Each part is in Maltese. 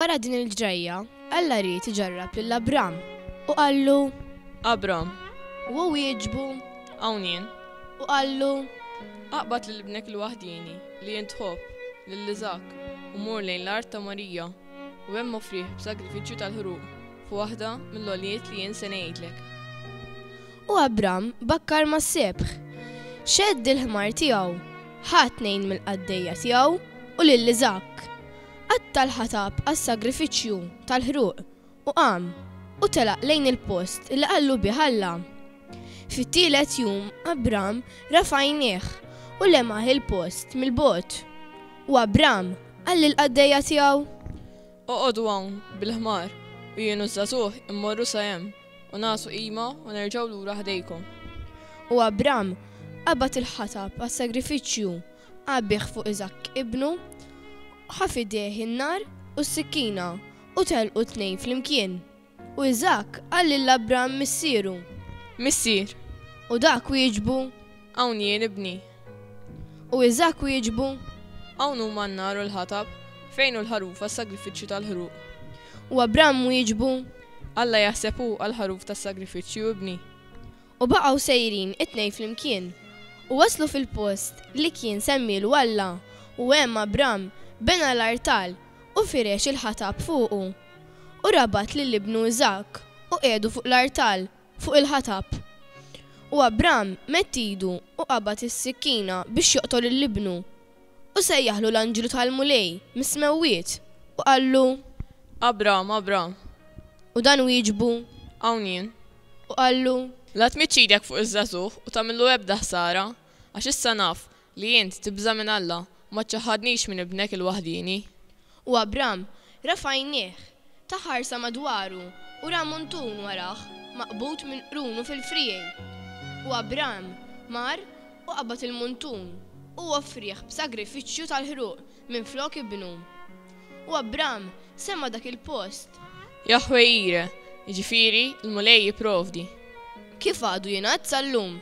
Wara din il-ġrajja, Alla ried iġarrab lil Abram u qallu, Abram. U hu wieġbu, Hawn jien. U qallu, Aqbad lil ibnek il-waħdieni li int tħobb, lil Iżakk, u mur lejn l-art ta' Morija, u hemm offrih b'sagrifiċċju tal-ħruq f'waħda mill-għoljiet li jien se ngħidlek. U Abram bakkar mas-sebħ, xeħd il-ħmar tiegħu, ħa tnejn mill-qaddejja tiegħu u lil Iżakk, qatta' l-ħatab għas-sagrifiċċju tal-ħruq u qam u telaq lejn il-post li qallu bih Alla. Fit-tielet jum Abram rafa' għajnejh u lemah il-post mill-bogħod. U Abram qal lill-qaddejja tiegħu. Oqogħdu hawn bil-ħmar u jien u ż-żagħżugħ immorru sa hemm. u ngħasu qima u nerġgħu lura ħdejkom. U Abram qabad il-ħatab għas-sagrifiċċju, għabbieħ fuq Iżakk ibnu, ħa f'idejh in-nar u s-sikkina, u telqu t-tnejn flimkien. U Iżakk qal lil Abram missieru. Missier! U dak wieġbu, Hawn jien, ibni. U Iżakk wieġbu. Hawn huma n-nar u l-ħatab. Fejn hu l-ħaruf għas-sagrifiċċju tal-ħruq? U Abram wieġbu. Alla jaħseb hu għall-ħaruf tas-sagrifiċċju, ibni. U baqgħu sejrin it-tnejn flimkien, u waslu fil-post li kien semmielu Alla, u hemm Abram bena l-artal u firex il-ħatab fuqu. U rabat lil ibnu Iżakk u qiegħdu fuq l-artal fuq il-ħatab. U Abram medd idu u qabad is-sikkina biex joqtol lil ibnu. U sejjaħlu l-anġlu tal-Mulej mis-smewwiet u qallu. Abram, Abram! U dan wieġbu. Hawn jien. U qallu. La tmidd idek fuq iż-żagħżugħ u tagħmillu ebda ħsara, għax issa naf Li int tibża' minn Alla, ma ċċaħħadnix minn Ibnek il-waħdieni. U Abram rafa' għajnieh, ta ħarsa madwaru u ra muntun warah maqbud minn qrunu fil-friegħi. U Abram mar u qabad il-muntun u offrieh b'sagrifiċċju tal-ħruq minflok ibnu. U Abram semma dak il-post. Jaħweh Jire, jiġifieri, l-Mulej jipprovdi. Kif għadu jingħad sal-lum.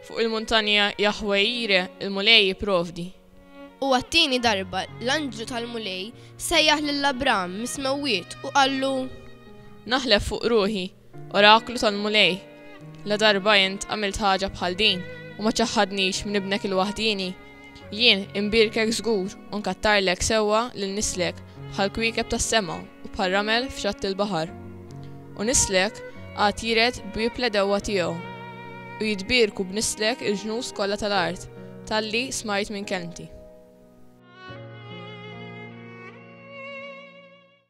Fuq il-muntanja Jaħweh Jire, l-Mulej jipprovdi. U għat-tieni darba l-anġlu tal-Mulej sejjaħ lil Abram mis-smewwiet u qallu. Naħlef fuq ruħi. Oraklu tal-Mulej, la darba int għamilt ħaġa bħal din u ma ċaħħadnix minn ibnek il-waħdieni. Jien imbirkek żgur u nkattarlek sewwa lil nislek bħal kwiekeb tas-sema u bħal ramel f'xatt il-baħar. U nislek għad jiret b'wieb l-għedewwa tiegħu. U jitbierku b'nislek il-ġnus kollha tal-art talli smajt minn kelmti.